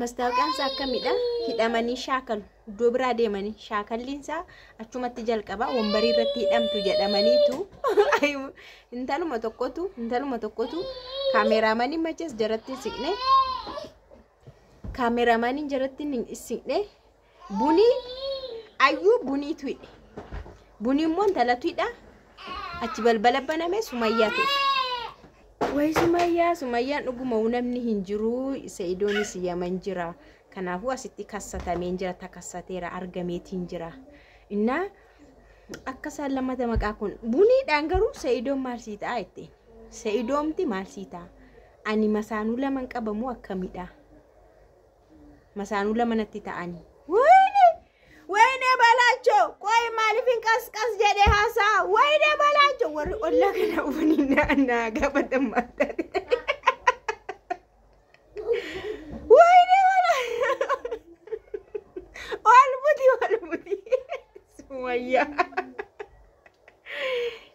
Mastaawoqiyaan isaa akkamidha? Hidhamanii shaakalu. Iddoo biraa deemanii shaakalliin isaa achumatti jalqaba wambarii irratti hidhamtu jedhamaniitu intaluma tokkotu intaluma tokkotu kaameraamanii machees jaratti siqne kaameraamaniin jaratti siqne Buni ayyuu bunii tuyidhe. Buni immoo intala tuyidha. Achi balbala baname sumayyaa tufe. Way sumayyaa sumayyaan dhuguma namni hin jiru sa'idoonis yaman jira. Kanaafuu asitti kassatameen jira takassateera argameetiin jira. Innaa akka isaan lammata maqaa kun buniidhaan garuu sa'idoon maal sii ta'a jetteen. Sa'idoomti maal sii ta'a? Ani masaanuu laman qabamoo akkamidha? Masaanuu lama natti ta'ani. Wayne! Wayne Balaachoo! Qoy maaliif hin qasqas jedhe haasaa? Wayne Balaachoo! Warri ollaa kana ufanii naa naa gaafatan maal taate? Wayne Balaachoo! Ol buti ol buti. Sumayyaa.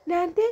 Naantee.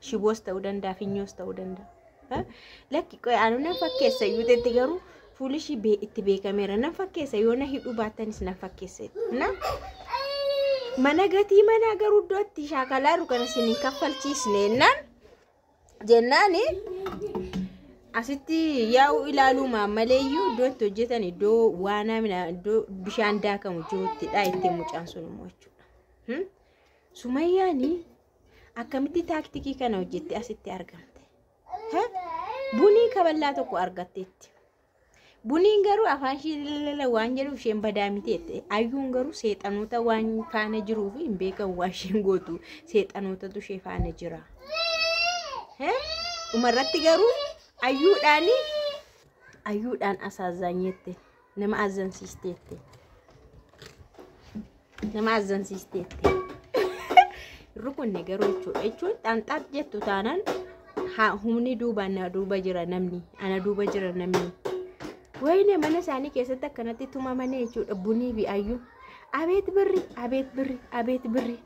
shiboos ta'uu danda'a finyoos ta'uu danda'a. Ha? Lakki qoy anu nan fakkeessa iyyuu jetti garuu fuuli ishii bee- itti beekameera nan fakkeessa yoo na hidhuu baattanis nan fakkeessa jetti. na mana gatii manaa garuu iddoo itti shaakalaaru kana isin hin kaffalchiisne jennaan jennaani asitti yaa'u ilaaluu maammalee iyyuu iddoo itti hojjetan iddoo waanaa mina iddoo bishaan daakamu jiruttidha itti mucaan sun immoo jechuudha. Hmm? Sumayyaani Akkamitti taaktikii kana hojjette asitti argamte? Ha? Bunii kaballaa tokko argatteetti. Buniin garuu afaan ishee lalala waan jedhuuf isheen badaa miti jette. Ayyuun garuu seexanoota waan faana jiruuf hin beekan waan isheen gootu seexanootatu ishee faana jira. He? Dhumarratti garuu ayyuudhaan ayyuudhaan asaazaanyeetti. Nama azzansiisteetti. Nama azzansiisteetti. Rukunne garuu jechuudha. Jechuun xanxaaf jettu taanaan haa humni duuba ana duuba jira namni. Ana duuba jira namni. Wayne mana isaanii keessatti akkanatti tumamanii jechuudha. Bunii fi ayyuu. Abeet birri, abeet birri, abeet birri.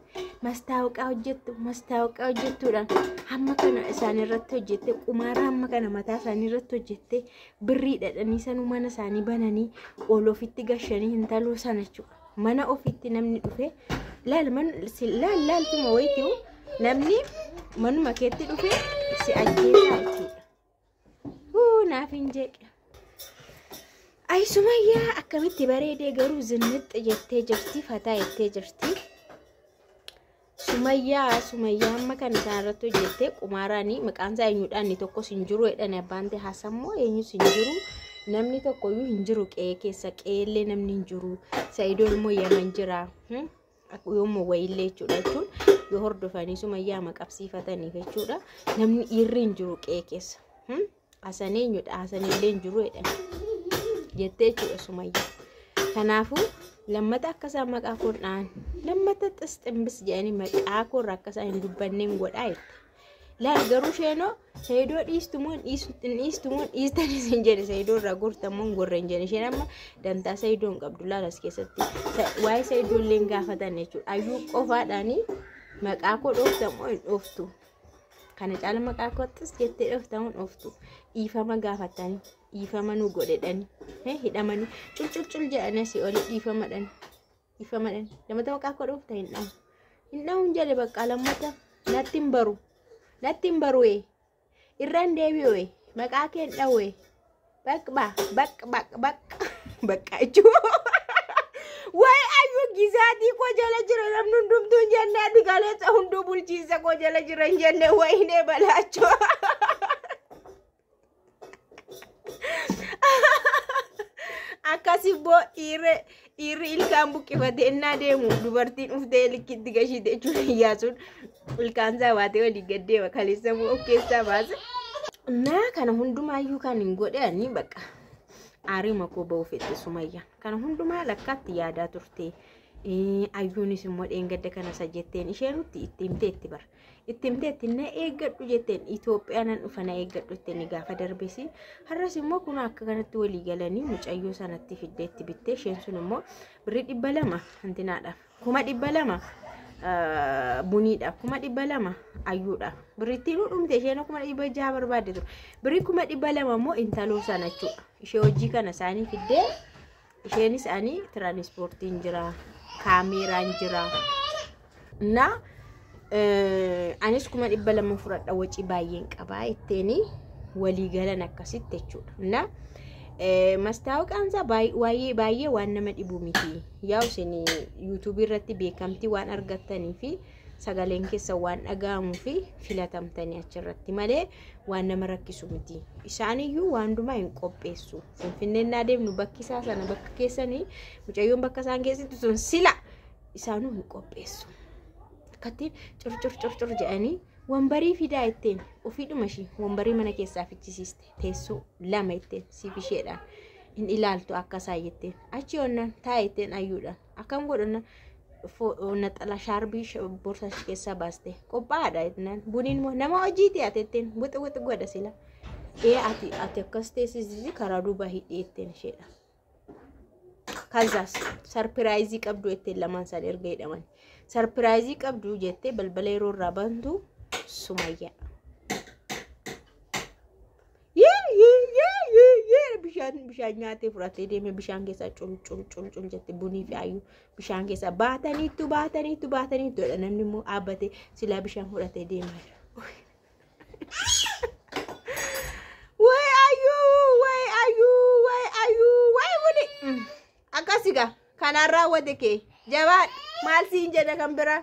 mastaawqaa hojjettu mastaawqaa hojjettuudhaan hamma kana isaan irratti hojjette qumaara hamma kana mataa isaanii irratti hojjette birrii dhadhanii sanuu mana isaanii bananii ol ofitti gashanii hintaloo sana jechuudha mana ofitti namni dhufe laal man si- laal laaltuma wayitii namni manuma keetti dhufe si ajjeesaa jechuudha. Huu naaf hin jeeqe. Ayi Sumayyaa akkamitti bareedee garuu zinnixxi jettee jirti fataa jettee jirti. Sumayyaa Sumayyaa amma kana isaan irratti hojjettee qumaaraanii maqaan isaa eenyudhaan inni tokkos hin jiru jedhan abbaan ta'e hasammoo eenyus hin jiru namni tokkoyyuu hin jiru qe'ee keessa qe'eellee namni hin jiru sa'idoo immoo yaman jira. yoommoo wayiillee jechuudha jechuun yoo hordofanii sumayyaa maqabsiifataniif jechuudha namni dhiirri hin jiru qe'ee keessa hmm? asan eenyudha asanillee hin jiru jedhan jettee jechuudha sumayyaa kanaafuu lammata akka isaan maqaa koodhaan lammata xisximbis jedhanii maqaa koorra akka isaan hin dubbanneen godhaa jette. Laal garuu sheenoo seedoo dhiistumoo dhiistumoo dhiistanis hin jedhe seedoo irraa gortammoo hin gorre hin jedhe isheen amma dantaa seedoo hin qabdu laal as keessatti waa'ee seedoo illee hin gaafatan jechuudha ayyuu qofaadhaanii maqaa koo dhooftamoo hin dhooftu kana caala maqaa koottis jettee dhooftamoo hin dhooftu dhiifama gaafatanii dhiifama nu godhedhanii hidhamanii culculcul jedhanii asii olii dhiifamadhanii. Ifama dhan. Lamata maqaa koo dhuufta hin dhamu. Hin dhamu hin jedhe bakka lammata natti hin baru. Natti hin baru ee. Irraan deebi'u ee. Maqaa kee hin dhawu ee. Bakka ba bakka bakka bakka bakka jechuun. Waa'ee ayyuu gisaatii koo jala jira namni hundumtuu hin jenne ati kaleessa hunduu bulchiinsa koo jala jira hin jenne wayinee balaachoo. Akkas immoo dhiirri dhiirri ilkaan buqqifate innaa deemu dubartiin dhuftee likkitti gashiite jechuun iyyaasuun ilkaan isaa baatee olii gad deema kaleessa immoo of keessaa baase. Naa kana hundumaayyuu kan hin godhani bakka aarima koo ba'uu fedhe sumayya. Kana hundumaa lakkaatti yaadaa turte. Ayyuunis immoo dheengadda kana isa jetteen ishee nutti itti himtee itti bara. itti himteetti na eeggadhu jetteen Itoophiyaa nan dhufa na eeggadhu jetteen gaafa darbesi har'as immoo kun akka kanatti walii galanii mucayyoo sanatti fiddeetti bittee isheen sun immoo birrii dhibba lama hantinaadhaaf kuma dhibba lama buniidhaaf kuma dhibba lama ayyuudhaaf birrittiin dhumte isheen kuma dhibba jaha barbaadde ture birrii kuma dhibba lama immoo intaloo sana jechuudha ishee hojii kana isaanii fiddee Isheenis ani tiraanispoortiin jira, kaameeraan jira. Na anis kuma dhibba lama fudhadha wacii baay'een qabaa itteeni walii galan akkasitti jechuudha. Na mastaawoqaan isaa baay'ee baay'ee waan nama dhibu miti. Yaa isin yuutuubii irratti beekamtii waan argattanii fi sagaleen keessan waan dhaga'amuu fi filatamtanii achirratti malee waan nama rakkisu miti. Isaaniyyuu waan hundumaa hin qopheessu. Finfinneen naa deemnu bakki isaa sana bakka keessanii mucayyoon bakka isaan keessatti sun sila isaanuu hin qopheessu. Akkatti curcur curcur jedhanii wambarii fidaa ittiin ofiidhuma ishii wambarii mana keessaa fichisiiste teessoo lama ittiin siif isheedhaan hin ilaaltu akka isaa jetteen achi onnaan taa'e ittiin ayyuudhaan Akkam godhanna naxala shaarbii borsaa ishee keessaa baaste qophaa'aadha jennaan buniin moo nama hojiiti ati ittiin wixi wixi godha sila ee ati ati akkas teessisisi karaa duuba hidhee ittiin isheedha. Kazaas sarpiraayizii qabdu ittiin lamaan isaan erga hidhaman sarpiraayizii qabdu jettee balbala yeroo irraa bantu sumayyaa. bishaan bishaan nyaatee fudhatee deemee bishaan keessaa cul cul cul cul jette bunii fi ayyuu bishaan keessaa baataniitu baataniitu baataniitu jedha namni immoo dhaabbatee silaa bishaan fudhatee deemaa jira. Way ayyuu way ayyuu way ayyuu way buni akkasi gaa kanaan raawwate kee jabaa maal siin jedha kan biraa.